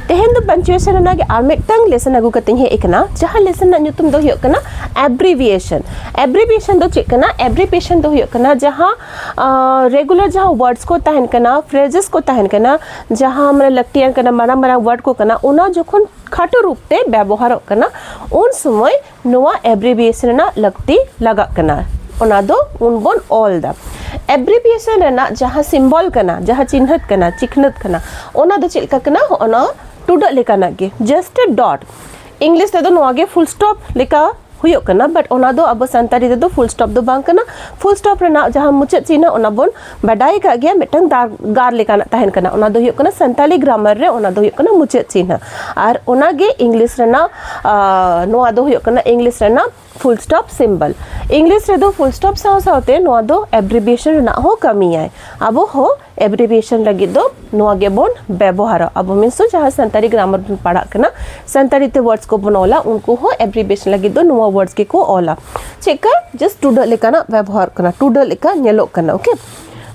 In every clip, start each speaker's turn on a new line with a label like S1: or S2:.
S1: ᱛᱮᱦᱮᱧ ᱫᱚ ᱯᱟᱱᱪᱩᱭᱮᱥᱚᱱ ᱨᱮᱱᱟᱜ ᱜᱮ ᱟᱨ ᱢᱤᱫᱴᱟᱝ ᱞᱮᱥᱚᱱ ᱟᱹᱜᱩ ᱠᱟᱛᱮᱧ ᱦᱮᱡ ᱟᱠᱟᱱᱟ ᱡᱟᱦᱟᱸ ᱞᱮᱥᱚᱱ ᱨᱮᱱᱟᱜ ᱧᱩᱛᱩᱢ ᱫᱚ ᱦᱩᱭᱩᱜ ᱠᱟᱱᱟ ᱮᱵᱽᱨᱤᱵᱷᱤᱭᱮᱥᱚᱱ ᱮᱵᱽᱨᱤᱵᱷᱤᱭᱮᱥᱚᱱ ᱫᱚ ᱪᱮᱫ ᱠᱟᱱᱟ ᱮᱵᱽᱨᱤᱵᱷᱤᱭᱮᱥᱚᱱ ᱫᱚ ᱦᱩᱭᱩᱜ ᱠᱟᱱᱟ ᱡᱟᱦᱟᱸ ᱨᱮᱜᱩᱞᱟᱨ ᱡᱟᱦᱟᱸ ᱣᱟᱨᱰᱥ ᱠᱚ ᱛᱟᱦᱮᱱ ᱠᱟᱱᱟ ᱯᱷᱨᱮᱡᱮᱥ ᱠᱚ ᱛᱟᱦᱮᱱ ᱠᱟᱱᱟ ᱡᱟᱦᱟᱸ ᱢᱟᱱᱮ ᱞᱟᱹᱠᱛᱤᱭᱟᱱ ᱠᱟᱱᱟ ᱢᱟᱨᱟᱝ ᱢᱟᱨᱟᱝ ᱣᱟᱨᱰ ᱠᱚ ᱠᱟᱱᱟ ᱚᱱᱟ ᱡᱚᱠᱷᱚᱱ ᱠᱷᱟᱴᱚ ᱨᱩᱯ ᱛᱮ ᱵᱮᱵᱚᱦᱟᱨᱚᱜ ᱠᱟᱱᱟ ᱩᱱ ᱥᱚᱢᱚᱭ ᱱᱚᱣᱟ ᱮᱵᱽᱨᱤᱵᱤᱭᱮᱥᱚᱱ ᱨᱮᱱᱟᱜ ᱞᱟᱹᱠᱛᱤ ᱞᱟᱜᱟᱜ ᱠᱟᱱᱟ ᱚᱱᱟ ᱫᱚ ᱩᱱ ᱵᱚᱱ ᱚᱞ ᱫᱟ ᱮᱵᱽᱨᱤᱵᱤᱭᱮᱥᱚᱱ ᱨᱮᱱᱟᱜ ᱡᱟᱦᱟᱸ ᱥᱤᱢᱵᱚᱞ ᱠᱟᱱᱟ ᱡᱟᱦᱟᱸ ᱪᱤᱱᱦᱟᱹᱛ ᱠᱟᱱᱟ ᱪᱤᱠᱷᱱᱟᱹᱛ ᱠᱟᱱᱟ ᱚᱱᱟ ᱫᱚ ᱪᱮᱫ ᱞᱮᱠᱟ ᱠᱟᱱᱟ ᱚᱱᱟ ᱴᱩᱰᱟᱹᱜ ᱞᱮᱠᱟᱱᱟᱜ ᱜᱮ ᱡᱟᱥᱴ ᱮ ᱰᱚᱴ ᱤᱝᱞᱤᱥ ᱛᱮᱫᱚ ᱱᱚᱣᱟ ᱜᱮ ᱯᱷᱩᱞ ᱥᱴᱚᱯ ᱞᱮᱠᱟ ᱦᱩᱭᱩᱜ ᱠᱟᱱᱟ ᱵᱟᱴ ᱚᱱᱟ ᱫᱚ ᱟᱵᱚ ᱥᱟᱱᱛᱟᱲᱤ ᱛᱮᱫᱚ ᱯᱷᱩᱞ ᱥᱴᱚᱯ ᱫᱚ ᱵᱟᱝ ᱠᱟᱱᱟ ᱯᱷᱩᱞ ᱥᱴᱚᱯ ᱨᱮᱱᱟᱜ ᱡᱟᱦᱟᱸ ᱢᱩᱪᱟᱹᱫ ᱪᱤᱱᱦᱟᱹ ᱚᱱᱟ ᱵᱚᱱ ᱵᱟᱰᱟᱭ ᱠᱟᱜ ᱜᱮᱭᱟ ᱢᱤᱫᱴᱟᱝ ᱫᱟᱨ ᱜᱟᱨ ᱞᱮᱠᱟᱱᱟᱜ ᱛᱟᱦᱮᱱ ᱠᱟᱱᱟ ᱚᱱᱟ ᱫᱚ ᱦᱩᱭᱩᱜ ᱠᱟᱱᱟ ᱥᱟᱱᱛᱟᱲᱤ ᱜᱨᱟᱢᱟᱨ ᱨᱮ ᱚᱱᱟ ᱫᱚ ᱦᱩᱭᱩᱜ ᱠᱟᱱᱟ ᱢᱩᱪᱟᱹᱫ ᱪᱤᱱᱦᱟᱹ ᱟᱨ ᱚᱱᱟ ᱜᱮ ᱤᱝᱞᱤᱥ ᱨᱮᱱᱟᱜ ᱱᱚᱣᱟ ᱫᱚ ᱦᱩᱭᱩᱜ ᱠᱟᱱᱟ ᱤᱝᱞᱤᱥ ᱨᱮᱱᱟᱜ ᱯᱷᱩᱞ ᱥᱴᱚᱯ ᱥᱤᱢᱵᱚᱞ ᱤᱝᱞᱤᱥ ᱨᱮᱫᱚ ᱯᱷᱩᱞ ᱥᱴᱚᱯ ᱥᱟᱶ ᱥᱟᱶᱛᱮ ᱱᱚᱣᱟ ᱫᱚ ᱮᱵᱽᱨᱤᱵᱷᱤᱭᱮᱥᱚᱱ ᱨᱮᱱᱟᱜ ᱦᱚᱸ ᱠᱟᱹᱢᱤᱭᱟᱭ ᱟᱵᱚ ᱦᱚᱸ ᱮᱵᱽᱨᱤᱵᱷᱤᱭᱮᱥᱚᱱ ᱞᱟᱹᱜᱤᱫ ᱫᱚ ᱱᱚᱣᱟ ᱜᱮᱵᱚᱱ ᱵᱮᱵᱚᱦᱟᱨᱟ ᱟᱵᱚ ᱢᱤᱱᱥ ᱫᱚ ᱡᱟᱦᱟᱸ ᱥᱟᱱᱛᱟᱲᱤ ᱜᱨᱟᱢᱟᱨ ᱵᱚᱱ ᱯᱟᱲᱦᱟᱜ ᱠᱟᱱᱟ ᱥᱟᱱᱛᱟᱲᱤ ᱛᱮ ᱣᱟᱨᱰᱥ ᱠᱚᱵᱚᱱ ᱚᱞᱟ ᱩᱱᱠᱩ ᱦᱚᱸ ᱮᱵᱽᱨᱤᱵᱷᱤᱭᱮᱥᱚᱱ ᱞᱟᱹᱜᱤᱫ ᱫᱚ ᱱᱚᱣᱟ ᱣᱟᱨᱰᱥ ᱜᱮᱠᱚ ᱚᱞᱟ ᱪᱮᱫ ᱠᱟ ᱡᱟᱥᱴ ᱴᱩᱰᱟᱹᱜ ᱞᱮᱠᱟᱱᱟᱜ ᱵᱮᱵᱚᱦᱟᱨ ᱠᱟᱱᱟ ᱴᱩᱰᱟᱹᱜ ᱞᱮᱠᱟ ᱧᱮᱞᱚᱜ ᱠᱟᱱᱟ ᱳᱠᱮ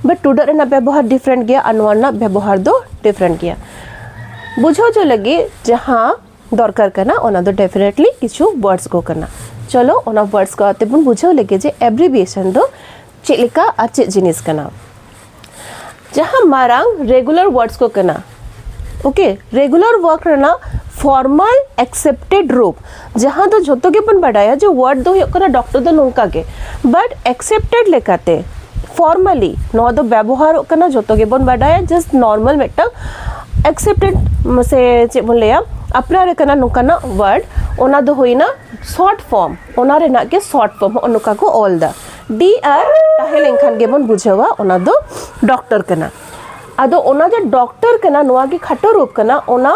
S1: ᱵᱟᱴ ᱴᱩᱰᱟᱹᱜ ᱨᱮᱱᱟᱜ ᱵᱮᱵᱚᱦᱟᱨ ᱰᱤᱯᱷᱨᱮᱱᱴ ᱜᱮᱭᱟ ᱟᱨ ᱱᱚᱣᱟ ᱨᱮᱱᱟᱜ ᱵᱮᱵᱚᱦᱟᱨ ᱫᱚ ᱰᱤᱯᱷᱨᱮᱱᱴ ᱜᱮᱭᱟ ᱵᱩᱡᱷᱟᱹᱣ ᱦᱚᱪᱚ ᱞᱟᱹᱜᱤᱫ ᱡᱟᱦᱟᱸ ᱫᱚᱨᱠᱟᱨ ᱠᱟᱱᱟ ᱚᱱᱟ ᱫᱚ ᱰᱮᱯᱷᱤᱱᱮᱴᱞᱤ ᱠᱤᱪᱷᱩ ᱣᱟᱨᱰᱥ ᱠᱚ ᱠᱟᱱᱟ ᱪᱚᱞᱚ ᱚᱱᱟ ᱣᱟᱨᱰᱥ ᱠᱚ ᱟᱛᱮ ᱵᱚᱱ ᱵᱩᱡᱷᱟᱹᱣ ᱞᱮᱜᱮ ᱡᱮ ᱮᱵᱽᱨᱤᱵᱤᱭᱮᱥᱚᱱ ᱫᱚ ᱪᱮᱫ ᱞᱮᱠᱟ ᱟᱨ ᱪᱮᱫ ᱡᱤᱱᱤᱥ ᱠᱟᱱᱟ ᱡᱟᱦᱟᱸ ᱢᱟᱨᱟᱝ ᱨᱮᱜᱩᱞᱟᱨ ᱣᱟᱨᱰᱥ ᱠᱚ ᱠᱟᱱᱟ ᱳᱠᱮ ᱨᱮᱜᱩᱞᱟᱨ ᱣᱟᱨᱠ ᱨᱮᱱᱟᱜ ᱯᱷᱚᱨᱢᱟᱞ ᱮᱠᱥᱮᱯᱴᱮᱰ ᱨᱩᱯ ᱡᱟᱦᱟᱸ ᱫᱚ ᱡᱷᱚᱛᱚ ᱜᱮᱵᱚᱱ ᱵᱟᱰᱟᱭᱟ ᱡᱮ ᱣᱟᱨᱰ ᱫᱚ ᱦᱩᱭᱩᱜ ᱠᱟᱱᱟ ᱰᱚᱠᱴᱚᱨ ᱫᱚ ᱱᱚᱝᱠᱟ ᱜᱮ ᱵᱟᱴ ᱮᱠᱥᱮᱯᱴᱮᱰ ᱞᱮᱠᱟᱛᱮ ᱯᱷᱚᱨᱢᱟᱞᱤ ᱱᱚᱣᱟ ᱫᱚ ᱵᱮᱵᱚᱦᱟᱨᱚᱜ ᱠᱟᱱᱟ ᱡᱷᱚᱛᱚ ᱜᱮᱵᱚᱱ ᱵᱟᱰᱟᱭᱟ ᱡᱟᱥᱴ ᱱᱚᱨᱢᱟᱞ ᱢᱤᱫᱴᱟᱝ ᱮᱠᱥᱮᱯᱴᱮᱰ ᱥᱮ ᱪᱮᱫ ᱵᱚᱱ ᱞᱟᱹᱭᱟ ᱟᱯᱱᱟᱨ ᱟᱠᱟᱱᱟ ᱱᱚᱝᱠᱟᱱᱟᱜ ᱣᱟᱨᱰ ᱚᱱᱟ ᱫᱚ ᱦᱩᱭᱱᱟ ᱥᱚᱨᱴ ᱯᱷᱚᱨᱢ ᱚᱱᱟ ᱨᱮᱱᱟᱜ ᱜᱮ ᱥᱚᱨᱴ ᱯᱷᱚᱨᱢ ᱦᱚᱸᱜᱼᱚ ᱱᱚᱝᱠᱟ ᱠᱚ ᱚᱞ ᱮᱫᱟ ᱰᱤ ᱟᱨ ᱛᱟᱦᱮᱸ ᱞᱮᱱᱠᱷᱟᱱ ᱜᱮᱵᱚᱱ ᱵᱩᱡᱷᱟᱹᱣᱟ ᱚᱱᱟ ᱫᱚ ᱰᱚᱠᱴᱚᱨ ᱠᱟᱱᱟ ᱟᱫᱚ ᱚᱱᱟ ᱡᱮ ᱰᱚᱠᱴᱚᱨ ᱠᱟᱱᱟ ᱱᱚᱣᱟ ᱜᱮ ᱠᱷᱟᱴᱚ ᱨᱩᱯ ᱠᱟᱱᱟ ᱚᱱᱟ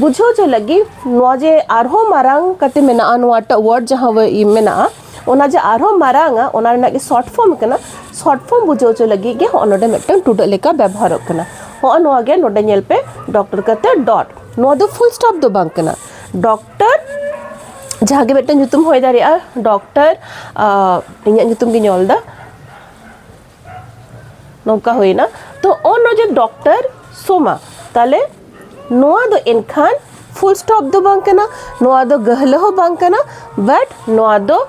S1: ᱵᱩᱡᱷᱟᱹᱣ ᱪᱚ ᱞᱟᱹᱜᱤᱫ ᱱᱚᱣᱟ ᱡᱮ ᱟᱨᱦᱚᱸ ᱢᱟᱨᱟᱝ ᱠᱟᱛᱮ ᱢᱮᱱᱟᱜᱼᱟ ᱱᱚᱣᱟᱴᱟᱜ ᱣᱟᱨᱰ ᱡᱟᱦᱟᱸ ᱢᱮᱱᱟᱜᱼᱟ ᱚᱱᱟ ᱡᱮ ᱟᱨᱦᱚᱸ ᱢᱟᱨᱟᱝᱟ ᱚᱱᱟ ᱨᱮᱱᱟᱜ ᱜᱮ ᱥᱚᱨᱴ ᱯᱷᱚᱨᱢ ᱠᱟᱱᱟ ᱥᱚᱨᱴ ᱯᱷᱚᱨᱢ ᱵᱩᱡᱷᱟᱹᱣ ᱪᱚ ᱞᱟᱹᱜᱤᱫ ᱜᱮ ᱦᱚᱸᱜᱼᱚ ᱱᱚᱰᱮ ᱢᱤᱫᱴᱟᱝ ᱴᱩᱰᱟᱹᱜ ᱞᱮᱠᱟ ᱵᱮᱵᱚᱦᱟᱨᱚᱜ ᱠᱟᱱᱟ ᱦᱚᱸᱜᱼᱚ ᱱᱚᱣᱟ ᱜᱮ ᱱᱚᱰᱮ ᱧᱮᱞ ᱯᱮ ᱰᱚᱠᱴᱚᱨ ᱠᱟᱛᱮ ᱰᱚᱴ ᱱᱚᱣᱟ ᱫᱚ ᱯᱷᱩᱞ ᱥᱴᱚᱯ ᱫᱚ ᱵᱟᱝ ᱠᱟᱱᱟ ᱰᱚᱠ ᱡᱟᱦᱟᱸ ᱜᱮ ᱢᱤᱫᱴᱮᱱ ᱧᱩᱛᱩᱢ ᱦᱩᱭ ᱫᱟᱲᱮᱭᱟᱜᱼᱟ ᱰᱚᱠᱴᱚᱨ ᱤᱧᱟᱹᱜ ᱧᱩᱛᱩᱢ ᱜᱤᱧ ᱚᱞᱫᱟ ᱱᱚᱝᱠᱟ ᱦᱩᱭᱱᱟ ᱛᱚ ᱚᱱ ᱚᱡᱮ ᱰᱚᱠᱴᱚᱨ ᱥᱳᱢᱟ ᱛᱟᱦᱞᱮ ᱱᱚᱣᱟ ᱫᱚ ᱮᱱᱠᱷᱟᱱ ᱯᱷᱩᱞ ᱥᱴᱚᱯ ᱫᱚ ᱵᱟᱝ ᱠᱟᱱᱟ ᱱᱚᱣᱟ ᱫᱚ ᱜᱟᱹᱦᱞᱟᱹ ᱦᱚᱸ ᱵᱟᱝ ᱠᱟᱱᱟ ᱵᱟᱴ ᱱᱚᱣᱟ ᱫᱚ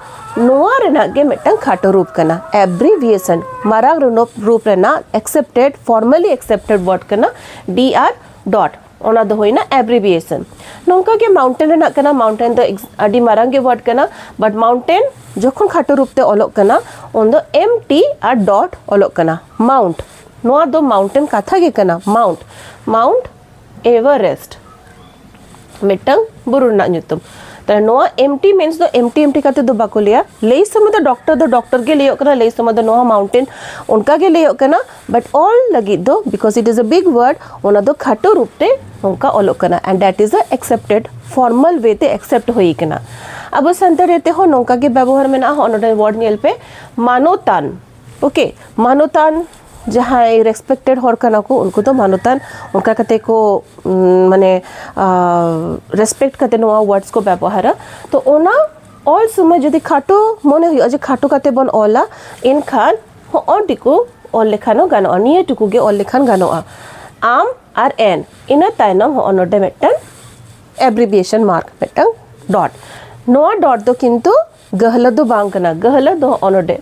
S1: ᱱᱚᱣᱟ ᱨᱮᱱᱟᱜ ᱜᱮ ᱢᱤᱫᱴᱟᱝ ᱠᱷᱟᱴᱚ ᱨᱩᱯ ᱠᱟᱱᱟ ᱮᱵᱽᱨᱤᱵᱷᱤᱭᱮᱥᱚᱱ ᱢᱟᱨᱟᱝ ᱨᱩᱯ ᱨᱮᱱᱟᱜ ᱮᱠᱥᱮᱯᱴᱮᱰ ᱯᱷᱚᱨᱢᱟᱞᱤ ᱮᱠᱥᱮᱯᱴᱮᱰ ᱣᱟᱨᱰ ᱠᱟᱱᱟ ᱰᱤ ᱟᱨ ᱰᱚᱴ ᱚᱱᱟ ᱫᱚ ᱦᱩᱭᱱᱟ ᱮᱵᱨᱤᱵᱤᱭᱮᱥᱚᱱ ᱱᱚᱝᱠᱟ ᱜᱮ ᱢᱟᱣᱩᱱᱴᱮᱱ ᱨᱮᱱᱟᱜ ᱠᱟᱱᱟ ᱢᱟᱣᱩᱱᱴᱮᱱ ᱫᱚ ᱟᱹᱰᱤ ᱢᱟᱨᱟᱝ ᱜᱮ ᱣᱟᱨᱰ ᱠᱟᱱᱟ ᱵᱟᱴ ᱢᱟᱣᱩᱱᱴᱮᱱ ᱡᱚᱠᱷᱚᱱ ᱠᱷᱟᱴᱚ ᱨᱩᱯ ᱛᱮ ᱚᱞᱚᱜ ᱠᱟᱱᱟ ᱩᱱ ᱫᱚ ᱮᱢ ᱴᱤ ᱟᱨ ᱰᱚᱴ ᱚᱞᱚᱜ ᱠᱟᱱᱟ ᱢᱟᱣᱩᱱᱴ ᱱᱚᱣᱟ ᱫᱚ ᱢᱟᱣᱩᱱᱴᱮᱱ ᱠᱟᱛᱷᱟ ᱜᱮ ᱠᱟᱱᱟ ᱢᱟᱣᱩᱱᱴ ᱢᱟᱣᱩᱱᱴ ᱮᱵᱷᱟᱨᱮᱥᱴ ᱢᱤᱫᱴᱟᱝ ᱵᱩᱨᱩ ᱨᱮᱱᱟᱜ ᱧᱩᱛᱩᱢ ᱛᱟᱦᱞᱮ ᱱᱚᱣᱟ ᱮᱢ ᱴᱤ ᱢᱤᱱᱥ ᱫᱚ ᱮᱢ ᱴᱤ ᱮᱢ ᱴᱤ ᱠᱟᱛᱮ ᱫᱚ ᱵᱟᱠᱚ ᱞᱟᱹᱭᱟ ᱞᱟᱹᱭ ᱥᱚᱢᱚᱭ ᱫᱚ ᱰᱚᱠᱴᱚᱨ ᱫᱚ ᱰᱚᱠᱴᱚᱨ ᱜᱮ ᱞᱟᱹᱭᱚᱜ ᱠᱟᱱᱟ ᱞᱟᱹᱭ ᱥᱚᱢᱚᱭ ᱫᱚ ᱱᱚᱣᱟ ᱢᱟᱣᱩᱱᱴᱮᱱ ᱚᱱᱠᱟ ᱜᱮ ᱞᱟᱹᱭᱚᱜ ᱠᱟᱱᱟ ᱵᱟᱴ ᱚᱞ ᱞᱟᱹᱜᱤᱫ ᱫᱚ ᱵᱤᱠᱚᱡᱽ ᱤᱴ ᱤᱡ ᱮ ᱵᱤᱜᱽ ᱣᱟᱨᱰ ᱚᱱᱟ ᱫᱚ ᱠᱷᱟᱴᱚ ᱨᱩᱯ ᱛᱮ ᱱᱚᱝᱠᱟ ᱚᱞᱚᱜ ᱠᱟᱱᱟ and that is a expected formal way ᱛᱮ ᱮᱠᱥᱮᱯᱴ ᱦᱩᱭ ᱠᱟᱱᱟ ᱟᱵᱚ ᱥᱟᱱᱛᱟᱲᱤ ᱛᱮᱦᱚᱸ ᱱᱚᱝᱠᱟ ᱜᱮ ᱵᱮᱵᱚᱦᱟᱨ ᱢᱮᱱᱟᱜᱼᱟ ᱦᱚᱸ ᱱᱚᱰᱮ ᱣᱟᱨᱰ ᱧᱮᱞ ᱯᱮ ᱢᱟᱱᱚᱛᱟᱱ ᱳᱠᱮ ᱢᱟᱱᱚᱛᱟᱱ ᱡᱟᱦᱟᱸᱭ ᱨᱮᱥᱯᱮᱠᱴᱮᱰ ᱦᱚᱲ ᱠᱟᱱᱟ ᱠᱚ ᱩᱱᱠᱩ ᱫᱚ ᱢᱟᱱᱚᱛᱟᱱ ᱚᱱᱠᱟ ᱠᱟᱛᱮ ᱠᱚ ᱢᱟᱱᱮ ᱨᱮᱥᱯᱮᱠᱴ ᱠᱟᱛᱮ ᱱᱚᱣᱟ ᱣᱟᱨᱰᱥ ᱠᱚ ᱵᱮᱵᱚᱦᱟᱨᱟ ᱛᱚ ᱚᱱᱟ ᱚᱞ ᱥᱚᱢᱚᱭ ᱡᱩᱫᱤ ᱠᱷᱟᱴᱚ ᱢᱚᱱᱮ ᱦᱩᱭᱩᱜᱼᱟ ᱡᱮ ᱠᱷᱟᱴᱚ ᱠᱟᱛᱮ ᱵᱚᱱ ᱚᱞᱟ ᱮᱱᱠᱷᱟᱱ ᱦᱚᱸᱜᱼᱚ ᱴᱤᱠᱩ ᱚᱞ ᱞᱮᱠᱷᱟᱱ ᱦᱚᱸ ᱜᱟᱱᱚᱜᱼᱟ ᱱᱤᱭᱟᱹ ᱴᱩᱠᱩ ᱜᱮ ᱚᱞ ᱞᱮᱠᱷᱟᱱ ᱜᱟᱱᱚᱜᱼᱟ ᱟᱢ ᱟᱨ ᱮᱱ ᱤᱱᱟᱹ ᱛᱟᱭᱱᱚᱢ ᱦᱚᱸᱜᱼᱚ ᱱᱚᱰᱮ ᱢᱤᱫᱴᱟᱝ ᱮᱵᱽᱨᱤᱵᱤᱭᱮᱥᱚᱱ ᱢᱟᱨᱠ ᱢᱤᱫᱴᱟᱝ ᱰᱚᱴ ᱱᱚᱣᱟ ᱰᱚᱴ ᱫᱚ ᱠᱤᱱᱛᱩ ᱜᱟᱹᱦᱞᱟᱹ ᱫᱚ ᱵᱟᱝ ᱠᱟᱱᱟ ᱜᱟᱹᱦᱞᱟᱹ ᱫᱚ ᱦᱚᱸᱜᱼᱚ ᱱᱚᱰᱮ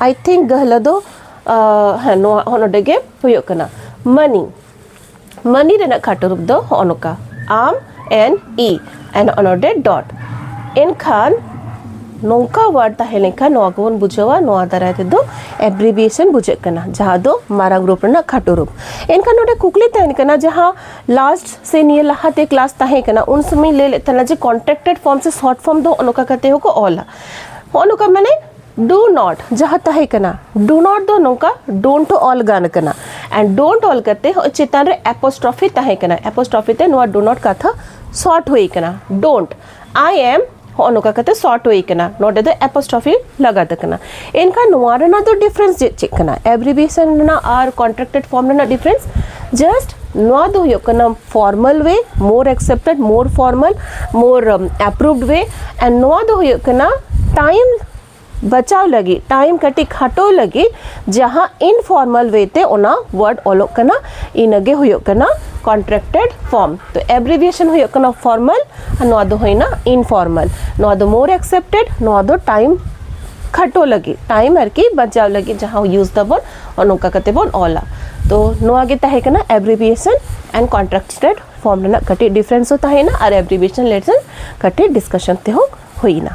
S1: ᱟᱭ ᱛᱷᱤᱝᱠ ᱜᱟᱹᱦᱞᱟᱹ ᱫᱚ ᱦᱮᱸ ᱱᱚᱣᱟ ᱦᱚᱸᱜᱼᱚ ᱱᱚᱰᱮ ᱜᱮ ᱦᱩᱭᱩᱜ ᱠᱟᱱᱟ ᱢᱟᱹᱱᱤ ᱢᱟᱹᱱᱤ ᱨᱮᱱᱟᱜ ᱠᱷᱟᱴᱚ ᱨᱩᱯ ᱫᱚ ᱦᱚᱸᱜᱼᱚ ᱱᱚᱝᱠᱟ ᱟᱢ ᱮᱱ ᱤ ᱮᱱ ᱚᱱᱚᱰᱮ ᱰᱚᱴ ᱮᱱᱠᱷᱟᱱ ᱱᱚᱝᱠᱟ ᱣᱟᱨᱰ ᱛᱟᱦᱮᱸ ᱞᱮᱱᱠᱷᱟᱱ ᱱᱚᱣᱟ ᱠᱚᱵᱚᱱ ᱵᱩᱡᱷᱟᱹᱣᱟ ᱱᱚᱣᱟ ᱫᱟᱨᱟᱭ ᱛᱮᱫᱚ ᱮᱵᱽᱨᱤᱵᱤᱭᱮᱥᱚᱱ ᱵᱩᱡᱷᱟᱹᱜ ᱠᱟᱱᱟ ᱡᱟᱦᱟᱸ ᱫᱚ ᱢᱟᱨᱟᱝ ᱨᱩᱯ ᱨᱮᱱᱟᱜ ᱠᱷᱟᱴᱚ ᱨᱩᱯ ᱮᱱᱠᱷᱟᱱ ᱱᱚᱰᱮ ᱠᱩᱠᱞᱤ ᱛᱟᱦᱮᱱ ᱠᱟᱱᱟ ᱡᱟᱦᱟᱸ ᱞᱟᱥᱴ ᱥᱮ ᱱᱤᱭᱟᱹ ᱞᱟᱦᱟᱛᱮ ᱠᱞᱟᱥ ᱛᱟᱦᱮᱸ ᱠᱟᱱᱟ ᱩᱱ ᱥᱚᱢᱚᱭ ᱞᱟᱹᱭ ᱞᱮᱫ ᱛᱟᱦᱮᱱᱟ ᱡᱮ ᱠᱚᱱᱴᱨᱟᱠᱴᱮᱰ ᱯᱷᱚᱨᱢ ᱥᱮ ᱥᱚᱨᱴ ᱯᱷᱚᱨᱢ ᱫᱚ ᱱᱚᱝᱠᱟ ᱠᱟᱛᱮ ᱦᱚᱸᱠᱚ ᱚᱞᱟ ᱦᱚᱸᱜᱼᱚ ᱱᱚᱝᱠᱟ ᱢᱟᱱᱮ ᱰᱩ ᱱᱚᱴ ᱡᱟᱦᱟᱸ ᱛᱟᱦᱮᱸ ᱠᱟᱱᱟ ᱰᱩ ᱱᱚᱴ ᱫᱚ ᱱᱚᱝᱠᱟ ᱰᱳᱱᱴ ᱚᱞ ᱜᱟᱱ ᱠᱟᱱᱟ ᱮᱱᱰ ᱰᱳᱱᱴ ᱚᱞ ᱠᱟᱛᱮ ᱦᱚᱸ ᱪᱮᱛᱟᱱ ᱨᱮ ᱮᱯᱳᱥᱴᱨᱚᱯᱷᱤ ᱛᱟᱦᱮᱸ ᱠᱟᱱᱟ ᱮᱯᱳᱥᱴᱨᱚᱯᱷᱤ ᱛᱮ ᱱᱚᱣᱟ ᱰᱩ ᱱᱚᱴ ᱠᱟᱛᱷᱟ ᱥᱚᱨᱴ ᱦᱩᱭ ᱠᱟᱱᱟ ᱰᱳᱱᱴ ᱟᱭ ᱮᱢ ᱦᱚᱸ ᱱᱚᱝᱠᱟ ᱠᱟᱛᱮ ᱥᱚᱨᱴ ᱦᱩᱭ ᱠᱟᱱᱟ ᱱᱚᱰᱮ ᱫᱚ ᱮᱯᱳᱥᱴᱨᱚᱯᱷᱤ ᱞᱟᱜᱟᱛ ᱠᱟᱱᱟ ᱮᱱᱠᱷᱟᱱ ᱱᱚᱣᱟ ᱨᱮᱱᱟᱜ ᱫᱚ ᱰᱤᱯᱷᱟᱨᱮᱱᱥ ᱪᱮᱫ ᱪᱮᱫ ᱠᱟᱱᱟ ᱮᱵᱽᱨᱤᱵᱷᱤᱭᱮᱥᱚᱱ ᱨᱮᱱᱟᱜ ᱟᱨ ᱠᱚᱱᱴᱨᱟᱠᱴᱮᱰ ᱯᱷᱚᱨᱢ ᱨᱮᱱᱟᱜ ᱰᱤᱯᱷᱟᱨᱮᱱᱥ ᱡᱟᱥᱴ ᱱᱚᱣᱟ ᱫᱚ ᱦᱩᱭᱩᱜ ᱠᱟᱱᱟ formal way more expected more formal more approved way ᱟᱨ ᱱᱚᱣᱟ ᱫᱚ ᱦᱩᱭᱩᱜ ᱠᱟᱱᱟ ᱴᱟᱭᱤᱢ ᱵᱟᱪᱟᱣ ᱞᱟᱹᱜᱤᱫ ᱴᱟᱭᱤᱢ ᱠᱟᱹᱴᱤᱡ ᱠᱷᱟᱴᱚ ᱞᱟᱹᱜᱤᱫ ᱡᱟᱦᱟᱸ ᱤᱱᱯᱷᱚᱨᱢᱟᱞ ᱣᱮ ᱛᱮ ᱚᱱᱟ ᱣᱟᱨᱰ ᱚᱞᱚᱜ ᱠᱟᱱᱟ ᱤᱱᱟᱹᱜᱮ ᱦᱩᱭᱩᱜ ᱠᱟᱱᱟ ᱠᱚᱱᱴᱨᱟᱠᱴᱮᱰ ᱯᱷᱚᱨᱢ ᱛᱚ ᱮᱵᱽᱨᱤᱵᱷᱤᱭᱮᱥᱚᱱ ᱦᱩᱭᱩᱜ ᱠᱟᱱᱟ ᱯᱷᱚᱨᱢᱟᱞ ᱟᱨ ᱱᱚᱣᱟ ᱫᱚ ᱦᱩᱭᱱᱟ ᱤᱱᱯᱷᱚᱨᱢᱟᱞ ᱱᱚᱣᱟ ᱫᱚ ᱢᱳᱨ ᱮᱠᱥᱮᱯᱴᱮᱰ ᱱᱚᱣᱟ ᱫᱚ ᱴᱟᱭᱤᱢ ᱠᱷᱟᱴᱚ ᱞᱟᱹᱜᱤᱫ ᱴᱟᱭᱤᱢ ᱟᱨᱠᱤ ᱵᱟᱪᱟᱣ ᱞᱟᱹᱜᱤᱫ ᱡᱟᱦᱟᱸ ᱤᱭᱩᱡᱽ ᱫᱟᱵᱚᱱ ᱚᱱ ᱚᱱᱠᱟ ᱠᱟᱛᱮ ᱵᱚᱱ ᱚᱞᱟ ᱛᱚ ᱱᱚᱣᱟ ᱜᱮ ᱛᱟᱦᱮᱸ ᱠᱟᱱᱟ ᱮᱵᱽᱨᱤᱵᱤᱭᱮᱥᱚᱱ ᱮᱱᱰ ᱠᱚᱱᱴᱨᱟᱠᱴᱮᱰ ᱯᱷᱚᱨᱢ ᱨᱮᱱᱟᱜ ᱠᱟᱹᱴᱤᱡ ᱰᱤᱯᱷᱟᱨᱮᱱᱥ ᱦᱚᱸ ᱛᱟᱦᱮᱸᱭᱮᱱᱟ ᱟᱨ ᱮᱵᱽᱨᱤᱵᱤᱭᱮᱥᱚᱱ ᱞᱮᱥᱚᱱ ᱠᱟᱹᱴᱤᱡ ᱰᱤᱥᱠᱟᱥᱚᱱ ᱛᱮᱦᱚᱸ ᱦᱩᱭᱮᱱᱟ